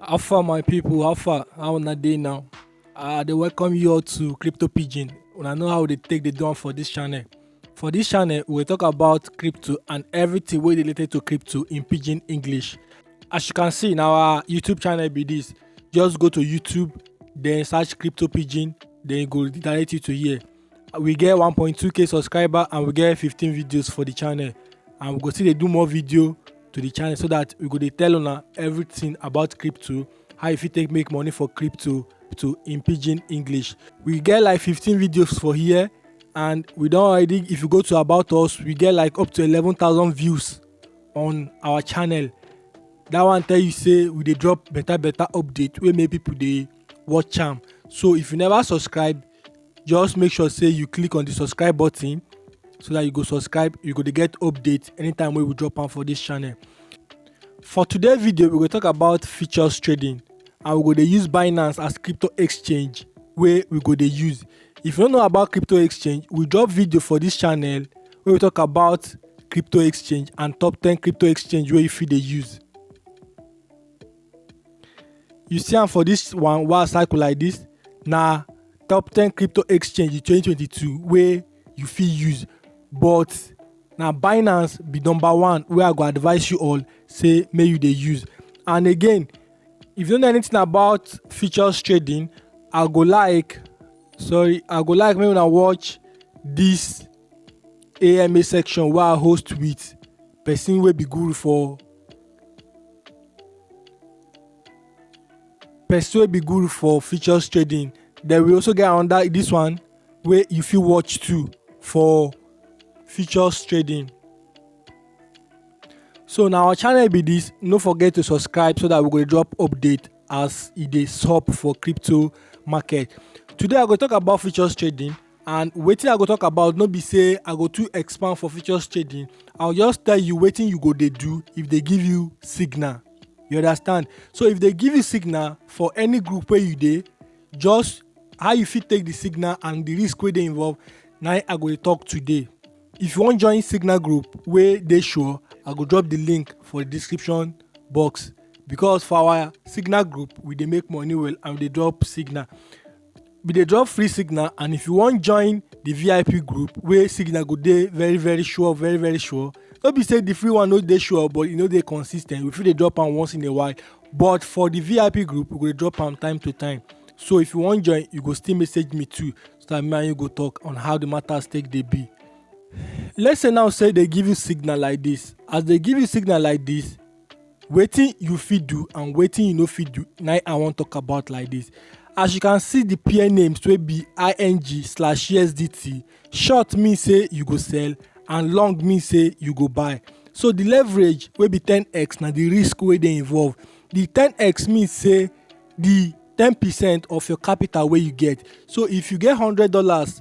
How far my people, how far, how una dey now? I dey welcome you all to Crypto Pidgin. Una know how we dey take dey do am for this channel. For this channel, we dey talk about crypto and everything wey dey related to crypto in Pidgin English. As you can see, na our YouTube channel be this. Just go to YouTube, then search Crypto Pidgin, then e go direct you to here. we get 1.2k subscriber and we get 15 videos for the channel and we go still dey do more video to the channel so that we go dey tell una everything about crypto how you fit take make money for crypto to in pidgin english we get like 15 videos for here and we don already if you go to about us we get like up to 11000 views on our channel that one tell you say we dey drop better better update wey make people dey watch am so if you never subscribe just make sure say you click on the subscribe button so that you go subscribe you go dey get update anytime wey we drop am for this channel for today video we go talk about futures trading and we go dey use binance as crypto exchange wey we go dey use if you no know about crypto exchange we drop video for this channel wey we talk about crypto exchange and top 10 crypto exchange wey you fit dey use you see am for this one wow cycle like this na top 10 crypto exchange in 2022 wey you fit use but na binance be number one wey i go advise you all say make you dey use and again if you don't know anything about futures trading i go like sorry i go like make una watch this ama section wey i host with person wey be guru for person wey be guru for futures trading then we also get another this one wey you fit watch too for futures trading so na our channel be this no forget to subscribe so that we go dey drop update as e dey sup for crypto market today i go talk about futures trading and wetin I go talk about no be say I go too expand for futures trading I will just tell you wetin you go dey do if they give you signal you understand so if they give you signal for any group wey you dey just how you fit take the signal and the risk wey dey involved na I go dey talk today if you wan join signal group wey dey sure I go drop the link for the description box because for our signal group we dey make money well and we dey drop signal we dey drop free signal and if you wan join the vip group wey signal go dey very very sure very very sure no be say the free one no dey sure but e no dey consis ten t we fit dey drop am once in a while but for the vip group we go dey drop am time to time so if you wan join you go still message me too so that me and you go talk on how the matters take dey be let's say now say they give you signal like this as they give you signal like this wetin you fit do and wetin you no fit do na im i wan talk about like this as you can see the pair names wey be ing slash usdt short mean say you go sell and long mean say you go buy so the leverage wey be 10x na the risk wey dey involved the 10x mean say the 10 percent of your capital wey you get so if you get hundred dollars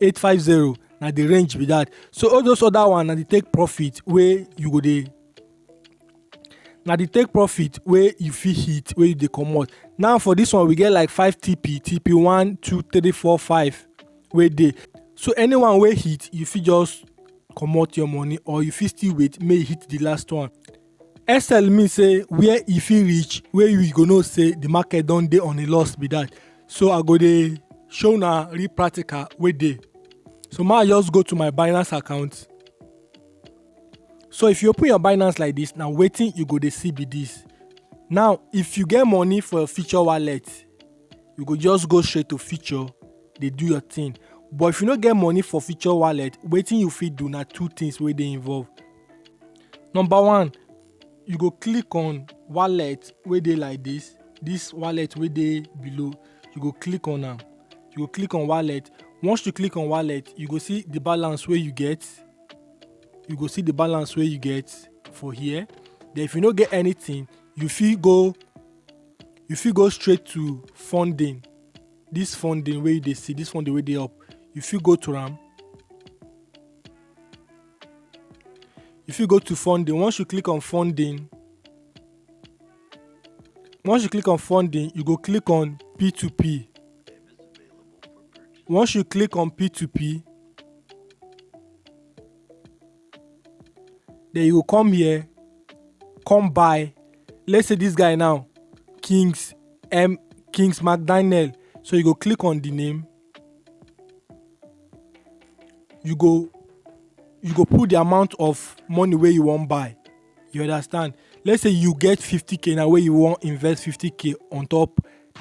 850 na the range be that so all those other one na the take profit wey you go dey na the take profit wey you fit hit wey you dey comot now for this one we get like five tp tp one two three four five wey dey so anyone wey hit you fit just comot your money or you fit still wait make e hit the last one sl mean say where e fit reach wey we go know say the market don dey on a loss be that so i go dey show una real practical wey dey so ma just go to my binance account so if you open your binance like this na wetin you go dey see be this now if you get money for your future wallet you go just go straight to future dey do your thing but if you no get money for future wallet wetin you fit do na two things wey dey involved Number one, you go click on wallet wey dey like this, this wallet wey dey below, you go click on am, you go click on wallet, once you click on wallet, you go see the balance wey you get, you go see the balance wey you get for here, then if you no get anything, you fit go, you fit go straight to funding, this funding wey you dey see, this funding wey dey up, you fit go to am. you fit go to funding once you click on funding once you click on funding you go click on p2p once you click on p2p then you go come here come buy let's say this guy now kings m kings mcdaniel so you go click on the name you go you go put the amount of money wey you wan buy you understand let's say you get 50k na wey you wan invest 50k on top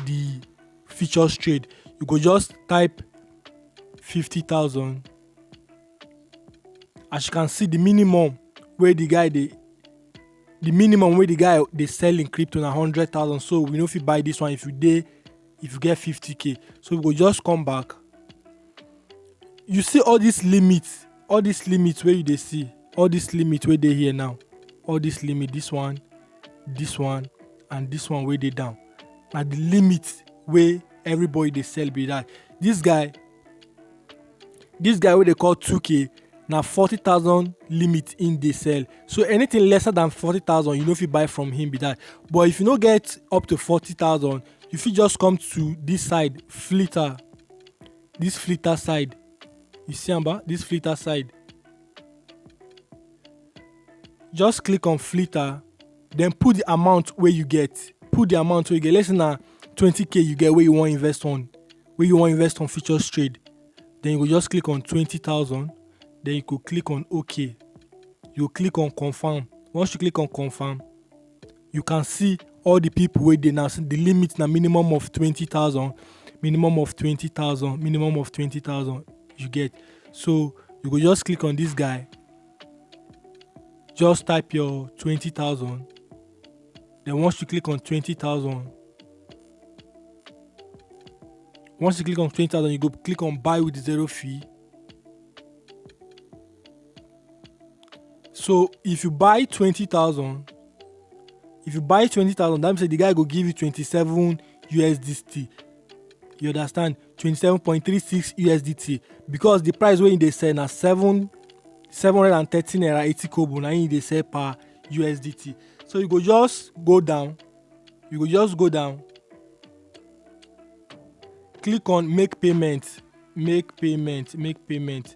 the futures trade you go just type 50000 as you can see the minimum wey the guy dey the minimum wey the guy dey sell him crypto na 100000 so we no fit buy this one if you dey if you get 50k so we go just come back you see all this limit all this limit where you they see all this limit where they here now all this limit this one this one and this one where they down na the limit where everybody they sell be that this guy this guy where they call 2k na 40000 limit in dey sell so anything lesser than 40000 you no fit buy from him be that but if you no get up to 40000 you fit just come to this side filter this filter side you see am ba this filter side just click on filter then put the amount where you get put the amount where you get let's say na 20k you get where you want invest on where you want invest on futures trade then you go just click on 20000 then you go click on ok you click on confirm once you click on confirm you can see all the people wey dey now so the limit na minimum of 20000 minimum of 20000 minimum of 20000 you get so you go just click on this guy just type your 20000 then once you click on 20000 once you click on 20000 you go click on buy with zero fee so if you buy twenty thousand if you buy twenty thousand that means say the guy go give you twenty-seven usdt you understand twenty-seven point three six usdt because the price wey he dey sell na seven seven hundred and thirty naira eighty kobo na him he dey sell per usdt so you go just go down you go just go down click on make payment make payment make payment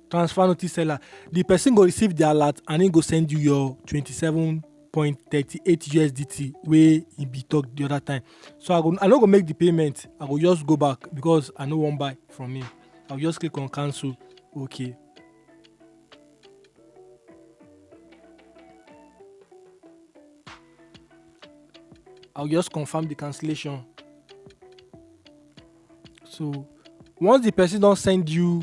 transfer notice seller the person go receive the alert and he go send you your 27 point thirty eight usdt wey e be talk the other time so i go i no go make the payment i go just go back because i no wan buy from him i go just click on cancel okay i go just confirm the cancellation so once the person don send you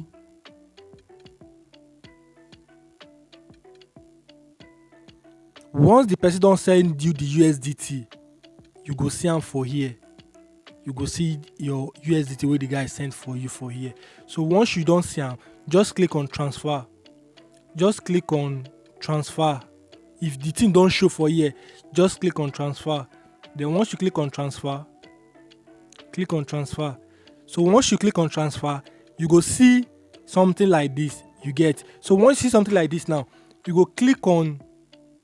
once the person don send you the usdt you go see am for here you go see your usdt wey the guy send for you for here so once you don see am just click on transfer just click on transfer if the thing don show for here just click on transfer then once you click on transfer click on transfer so once you click on transfer you go see something like this you get so once you see something like this now you go click on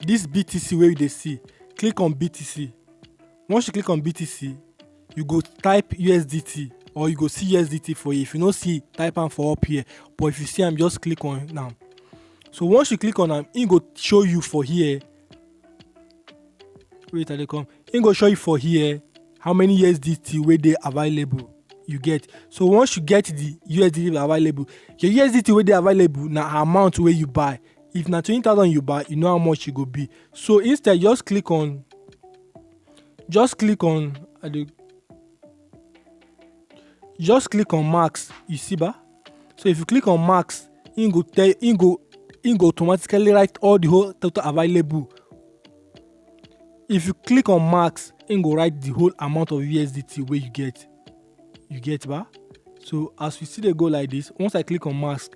this btc where you dey see click on btc once you click on btc you go type usdt or you go see usdt for you if you no see type am for up here but if you see am just click on am so once you click on am e go show you for here wait i dey come him go show you for here how many usdt wey dey available you get so once you get the usdt available your usdt wey dey available na amount wey you buy if na twenty thousand you buy you know how much e go be so instead just click on just click on i dey just click on max you see ba so if you click on max im go tell im go im go automatically write all the whole total available if you click on max im go write the whole amount of usdt wey you get you get ba so as we see dey go like this once i click on max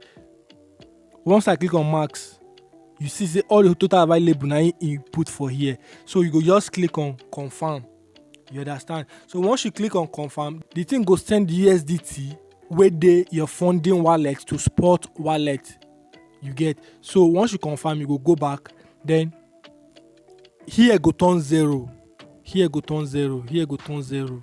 once i click on max you see say all the total available na im e put for here so you go just click on confirm you understand so once you click on confirm the thing go send the usdt wey dey your funding wallet to spot wallet you get so once you confirm you go go back then here go turn zero here go turn zero here go turn zero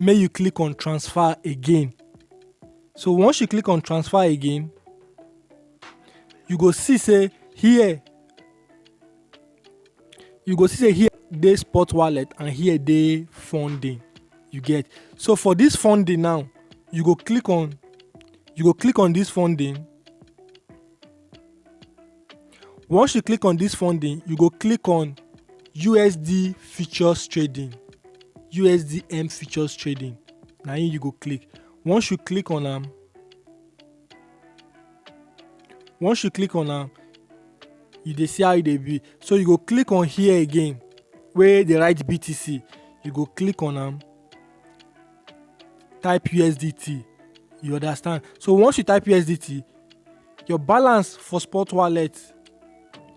make you click on transfer again so once you click on transfer again you go see say here you go see say here dey spot wallet and here dey funding you get so for this funding now you go click on you go click on this funding Once you click on this funding, you go click on USD futures trading, USDM futures trading. Now you go click. Once you click on them, once you click on them, you dey see how e dey be. So you go click on here again, where they write BTC. You go click on them, type USDT. You understand? So once you type USDT, Your balance for Spot Wallet.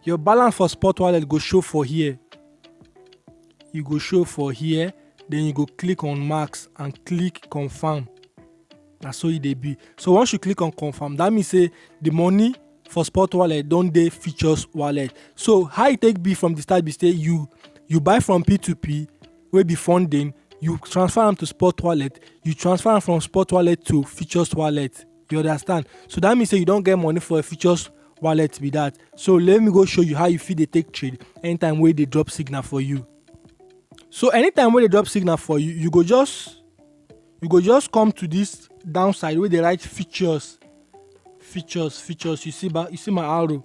Your balance for Spot Wallet go show for here. You go show for here, then you go click on Max and click Confirm. Na so e dey be. So once you click on Confirm, that means say the money for Spot Wallet don dey Futures Wallet. So how e take be from the start be say you you buy from P2P wey be funding, you transfer am to Spot Wallet, you transfer am from Spot Wallet to Futures Wallet. you understand so that means say you don get money for a futures wallet be that so let me go show you how you fit dey take trade anytime wey dey drop signal for you so anytime wey dey drop signal for you you go just you go just come to this downside wey dey write features features features you see ba you see my arrow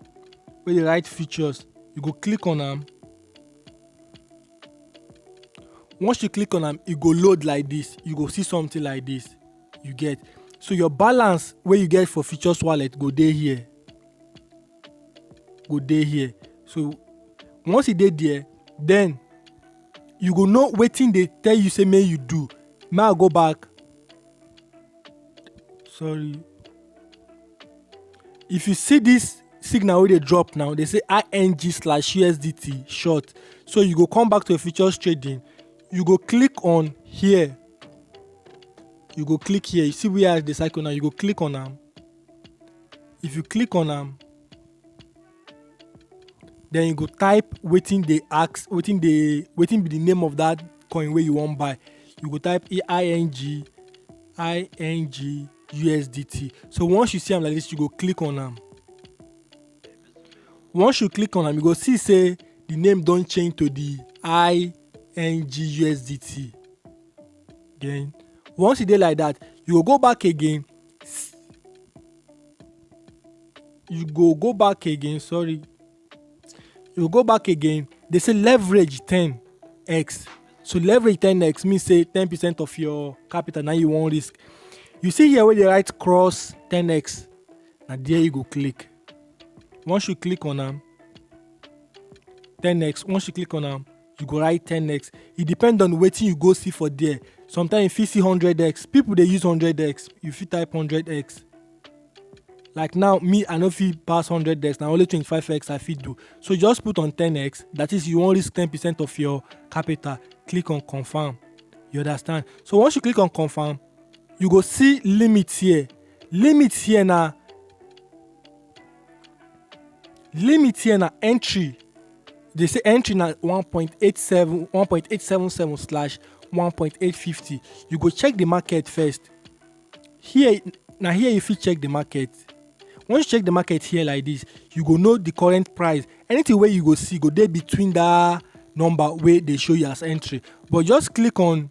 wey dey write features you go click on am once you click on am e go load like this you go see something like this you get so your balance wey you get for futures wallet go dey here go dey here so once e dey there then you go know wetin dey tell you say make you do may i go back sorry if you see this signal wey dey drop now dey say ing slash usdt short so you go come back to your futures trading you go click on here you go click here you see where i dey cycle now you go click on am if you click on am then you go type wetin dey ask wetin dey wetin be the name of that coin wey you wan buy you go type ing ing usdt so once you see am like this you go click on am once you click on am you go see say the name don change to the i ngusdt then once e dey like that you go go back again you go go back again sorry you go back again they say leverage 10x so leverage 10x mean say 10 percent of your capital na you wan risk you see here wey dey write cross 10x na there you go click once you click on am 10x once you click on am you go write 10x e depend on wetin you go see for there sometimes you fit see 100x people dey use 100x you fit type 100x like now me i no fit pass 100x na only 25x i fit do so just put on 10x that is you wan risk 10 percent of your capital click on confirm you understand so once you click on confirm you go see limit here Limit here na limit here na entry they say entry na 1.87 1.877 slash 1.850 you go check the market first here na here you fit check the market once you check the market here like this you go know the current price anything wey you go see go dey between that number wey dey show you as entry but just click on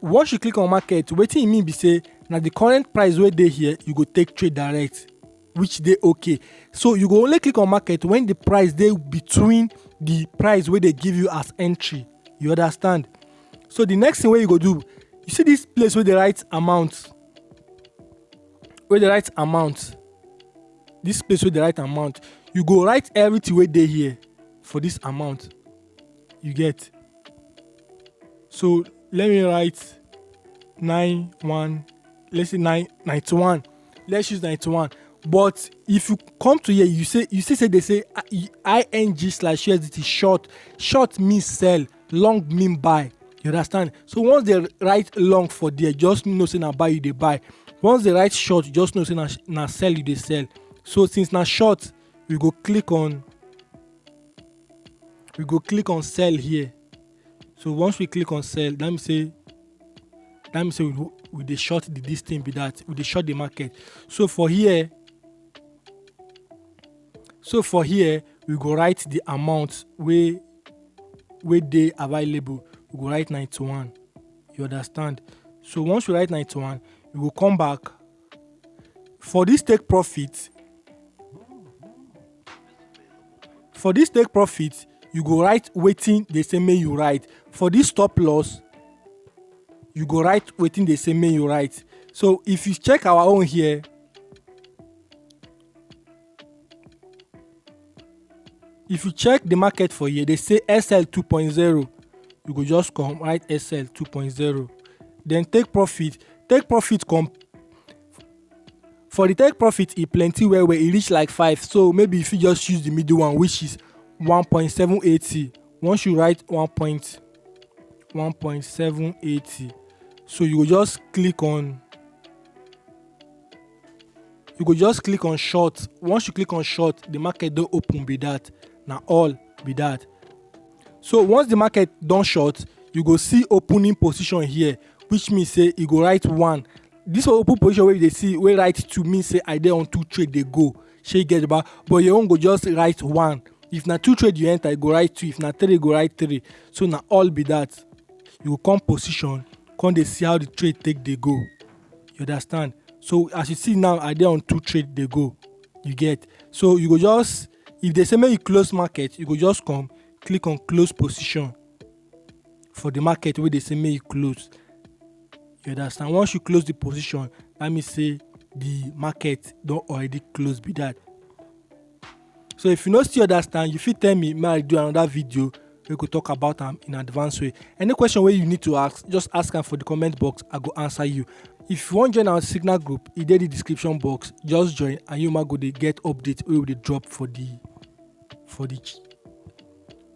Once you click on market, wetin e mean be say na the current price wey dey here you go take trade direct which dey okay. So you go only click on market when the price dey between the price wey dey give you as entry. You understand? So the next thing wey you go do, you see this place wey dey write amount, wey dey write amount, this place wey dey write amount, you go write everything wey dey here for this amount. you get so let me write 9 1 let's say 9 91 let's use 91 but if you come to here you say you see say they say uh, ing slash usdt short short means sell long mean buy you understand so once they write long for there just know say na buy you dey buy once they write short just know say na na sell you dey sell so since na short we go click on we go click on sell here so once we click on sell that mean say that mean say we, we dey short the this thing be that we dey short the market so for here so for here we go write the amount wey wey dey available we go write 91 you understand so once we write 91 we go come back For dis take profit For dis take profit, you go write wetin dey say make you write. For dis stop loss, you go write wetin dey say make you write. So if you check our own here, if you check the market for here they say sl 2.0 you go just come write sl 2.0 then take profit take profit come for the take profit e plenty well well e reach like five so maybe you fit just use the middle one which is 1.780 once you write 1.1.780 so you go just click on you go just click on short once you click on short the market don open be that na all be that so once the market don short you go see opening position here which mean say e go write one this open position wey you dey see wey write two mean say i dey on two trade dey go shey you get ba but your own go just write one if na two trade you enter you go write two if na three you go write three so na all be that you go come position come dey see how the trade take dey go. you understand so as you see now i dey on two trade dey go you get so you go just if they say make you close market you go just come click on close position for the market wey dey say make you close you understand once you close the position that mean say the market don already close be that so if you no still understand you fit tell me make i do another video wey go talk about am in advance way any question wey you need to ask just ask am for the comment box i go answer you if you wan join our signal group e dey the description box just join and you ma go dey get update wey we dey drop for the for the ch-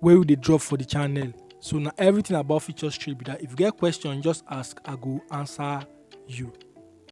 wey we dey drop for the channel so na everything about feature street be that if you get question just ask i go answer you.